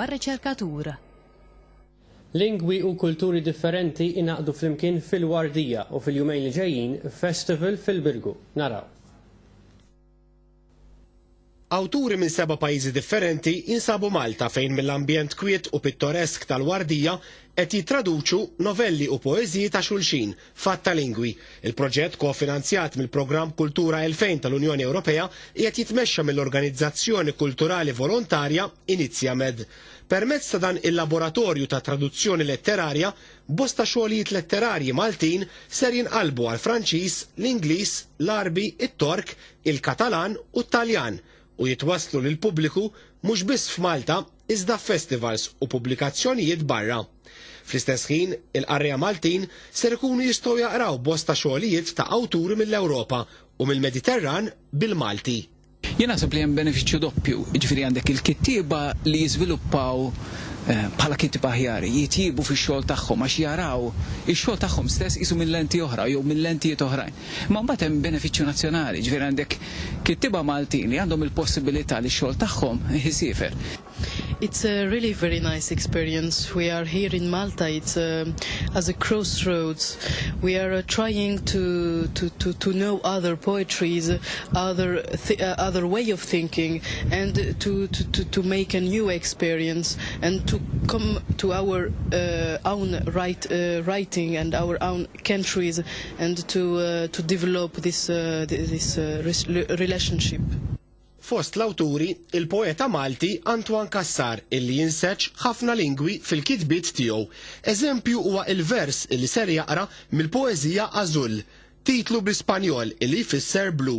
mar-riċerkatur. Lingwi u kulturi differenti ingħaqdu flimkien fil-Wardija u fil-jumejn li ġejjin f'festival fil-Birgu. Naraw. Awturi minn seba' pajjiżi differenti jinsabu Malta fejn mill-ambjent kwiet u pittoresk tal-Wardija qed jittraduċu novelli u poeżiji ta' xulxin. F'għadd ta' lingwi, il-proġett kofinanzjat mill-Programm Kultura 2000 tal-Unjoni Ewropea qiegħed jitmexxa mill-organizzazzjoni kulturali volontarja Iniziamed. Permezz ta' dan il-laboratorju ta' traduzzjoni letterarja, bosta xogħlijiet letterarji Maltin ser jinqalbu għall-Franċiż, l-Ingliż, l-Għarbi, it-Tork, il-Katalan u t-Taljan u jitwasslu lill-pubbliku mhux biss f'Malta, iżda f'festivals u pubblikazzjonijiet barra. Fl-istess ħin, il-qarrejja Maltin ser ikunu jistgħu jaqraw bosta xogħlijiet ta' awturi mill-Ewropa u mill-Mediterran bil-Malti. Jien naħseb li hemm benefiċċju doppju, jiġifieri għandek il-kittieba li jiżviluppaw eh, bħala kittieba aħjar, jitjiebu fix-xogħol tagħhom għax jaraw ix-xogħol tagħhom stess qisu minn lenti oħra jew minn lentijiet oħrajn. Imma mbagħad hemm benefiċċju nazzjonali, ġifieri għandek kittieba Maltin li għandhom il-possibilità li x-xogħol tagħhom isiefer. It's a really very nice experience, we are here in Malta, it's a as a cross roads, we are a trying to to to to know other poetries, other th uh, other way of thinking and to to to to make a new experience and to come to our uh, own write, uh, writing and our own countries and to to develop this this relationship. Fost l-awturi, il-poeta Malti Antoine Cassar illi jinseġġ ħafna lingwi fil-kitbiet tiegħu. Eżempju huwa il-vers illi ser jaqra mill-poeżija Azul, titlu bl-Ispanjol illi jfisser blu.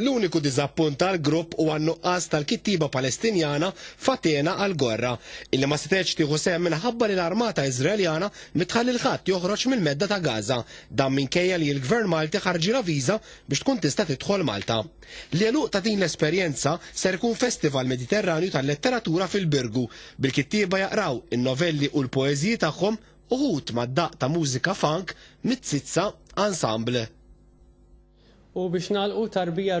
L-uniku diżappunt għall-grupp huwa n-nuqqas tal-kittieba Palestinjana Fatena Algorra, illi ma setgħetx tieħu sehem minħabba li l-armata Iżraeljana mi tħalli 'l ħadd joħroġ mill-Medda ta' Gaza, dan minkejja li l-Gvern Malti ħarġilha viża biex tkun tista' tidħol Malta. L-għeluq ta' din l-esperjenza ser ikun festival Mediterranju tal-letteratura fil-Birgu, bil-kittieba jaqraw in-novelli u l-poeżiji tagħhom Uħud mad-daqq ta' mużika funk mit-Zizza Ensemble. U biex nagħlqu tarbija